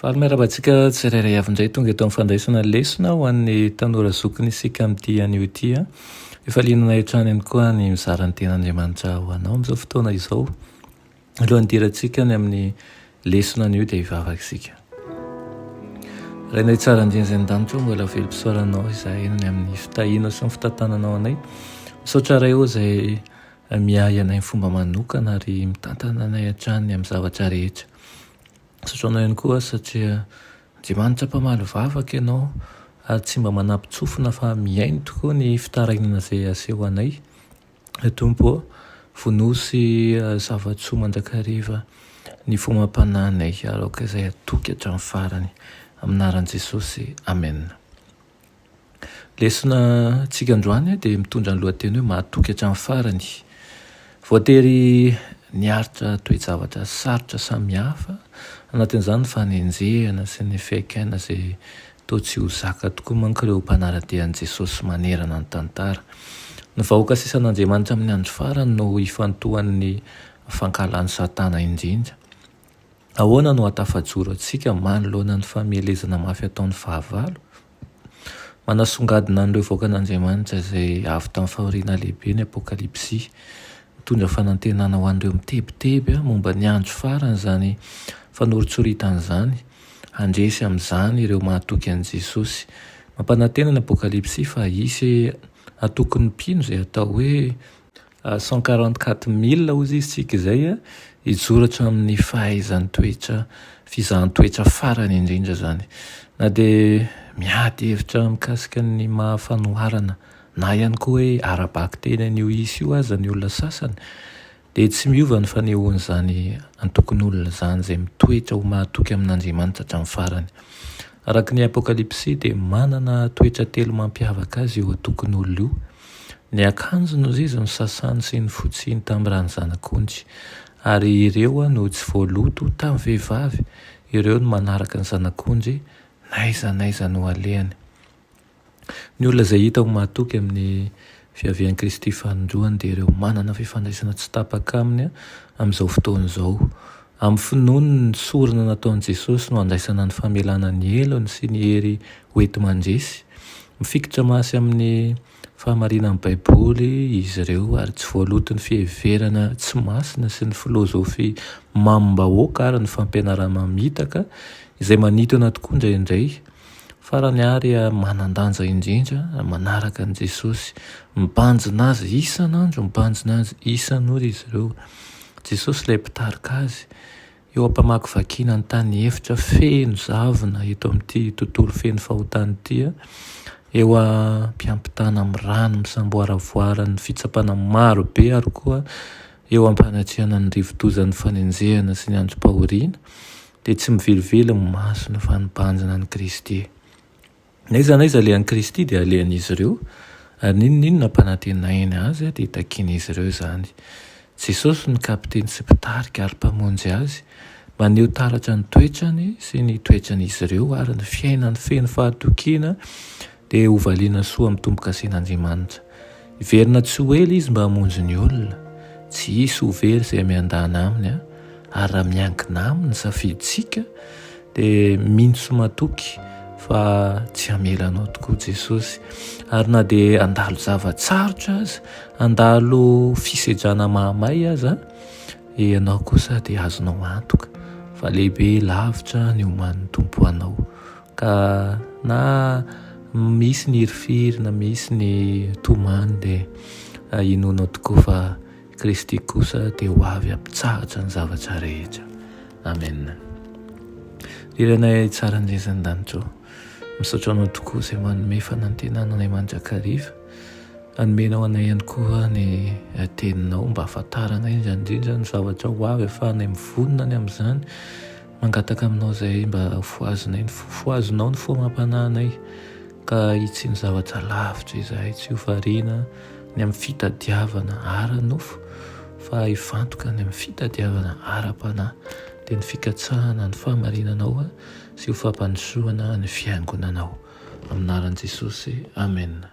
Faly miarahaba antsika tsirairay avy indray tonga eto amin'ny fandraisana lesona ho an'ny tanora zokiny isika amin'ity anio ity. Efa liananay hatrany ihany koa ny mizara ny tenan'Andriamanitra ho anao amin'izao fotoana izao. Alohan'ny hidirantsika ny amin'ny lesona anio dia hivavaka isika. Rainay tsara indrindra izay an-danitra, mbola velom-pisaoranao izahay ny amin'ny fitahianao sy ny fitantananao anay. Misaotra Ray ô izay miahy anay fomba manokana ary mitantana anay hatrany amin'ny zavatra rehetra. Sasoana ihany koa satria Andriamanitra mpamaly vavaka ianao ary tsy mba manapitsofina fa mihaino tokoa ny fitarainana izay aseho anay. Ry Tompo ô, vonoy sy zava-tsoa mandrakariva ny fomam-panahinay ary aoka izay hatoky hatramin'ny farany. Amin'ny anaran'i Jesosy, Amena. Lesona antsika androany dia mitondra ny lohateny hoe mahatoky hatramin'ny farany. Voatery niaritra toe-javatra sarotra samihafa, anatin'izany ny fanenjehana sy ny fihaikaina izay toa tsy ho zaka tokoa manko ireo mpanara-dia an'i Jesosy manerana ny tantara. Ny vahoaka sisan'Andriamanitra amin'ny andro farany no hifantohan'ny fankahalan'i Satana indrindra. Ahoana no hahatafajoro antsika manoloana ny famelezana mafy ataon'ny fahavalo? Manasongadina an'ireo vahoakan'Andriamanitra izay avy tamin'ny fahoriana lehibe ny Apokalypsy. Mitondra fanantenana ho an'ireo mitebiteby momba ny andro farany izany fanoritsoritana izany. Handresy amin'izany ireo mahatoky an'i Jesosy. Mampanantena ny Apokalypsy fa hisy hatoky ny mpino izay atao hoe Cent quarante quatre mille hozy isika izay hijoro hatramin'ny fahaizan-toetra, fizahan-toetra farany indrindra izany. Na dia miady hevitra mikasika ny maha fanoharana na ihany koa hoe ara-bakiteny an'io isa io aza ny olona sasany dia tsy miova ny fanehoan'izany antokon'olona izany izay mitoetra ho mahatoky amin'Andriamanitra hatramin'ny farany. Araka ny Apokalypsy dia manana toetra telo mampiavaka azy io antokon'olona io. Ny akanjony hozy izy no sasany sy ny fotsiny tam rany zanak'ondry, ary ireo no tsy voaloto tam vehivavy, ireo no manaraka ny zanak'ondry n'aiza n'aiza no alehany. Ny olona izay hita ho mahatoky amin' ny fiavian' i Kristy faninjoany dia ireo manana fifandraisana tsy tapaka aminy amin' izao fotoana izao, Amin'ny finoany ny sorona nataon'i Jesosy no handraisana ny famelana ny helony sy ny hery hoenti-mandresy. Mifikitra mafy amin'ny fahamarinan'ny Baiboly izy ireo, ary tsy voaloton'ny fiheverana tsy masina sy ny filozofia mamim-bahoaka ary ny fampianarana mamitaka, izay manintona tokoa indraindray. Farany ary, manan-danja indrindra, manaraka an'i Jesosy. Mibanjina azy isan'andro, mibanjina azy isan'ora izy ireo. Jesosy ilay mpitarika azy eo am-pamakivakiana ny tany efitra feno zavona eto amin'ity tontolo feno fahotana ity, eo am-piampitana amin'ny rano misamboaravoaran'ny fitsapana maro be ary koa eo am-panatrehana ny rivo-dozan'ny fanenjehana sy ny androm-pahoriana, dia tsy mivelively ny masony fa nibanjina an'i Kristy. N'aiza n'aiza alehan'i Kristy dia alehan'izy ireo, ary n'inon'inona ampanantenainy Azy dia takian'izy ireo izany. Jesosy no Kapiteny sy Mpitarika ary Mpamonjy azy. Maneho taratra ny toetrany sy ny toetran'izy ireo ary ny fiainany feno fahatokiana dia hovaliana soa amin'ny tombo-kasen'Andriamanitra. Hiverina tsy ho ela izy mba hamonjy ny olona. Tsy hisy ho very izay miandana aminy. Ary raha miankina aminy ny safidintsika dia mino sy matoky fa tsy hamela anao tokoa Jesosy. Ary na dia handalo zava-tsarotra aza, handalo fisedrana mahamay aza, ianao kosa dia azonao antoka fa lehibe lavitra ny oman'ny Tompo anao. Ka na misy ny hirifiry na misy ny tomany dia inoanao tokoa fa Kristy kosa dia ho avy hampitsahatra ny zavatra rehetra. Amen. Ry Renay tsara indrindra ny danitro. Misaotra anao tokoa izay manome fanantenana anay mandrakariva. Anomenao anay ihany koa ny eh, teninao mba ahafantaranay indrindra ny zavatra ho avy afahanay mivonona ny amin'izany Mangataka aminao izahay mba fohazinay ny fo, fohazinao ny fo amam-panahinay ka hitsian'ny zavatra lavitra izahay, tsy ho variana ny amin'ny fitadiavana ara-nofo fa hifantoka ny amin'ny fitadiavana ara-panahy, dia ny fikatsahana ny fahamarinanao sy ho fampandrosoana ny Fiangonanao. Amin'ny anaran'i Jesosy, amena.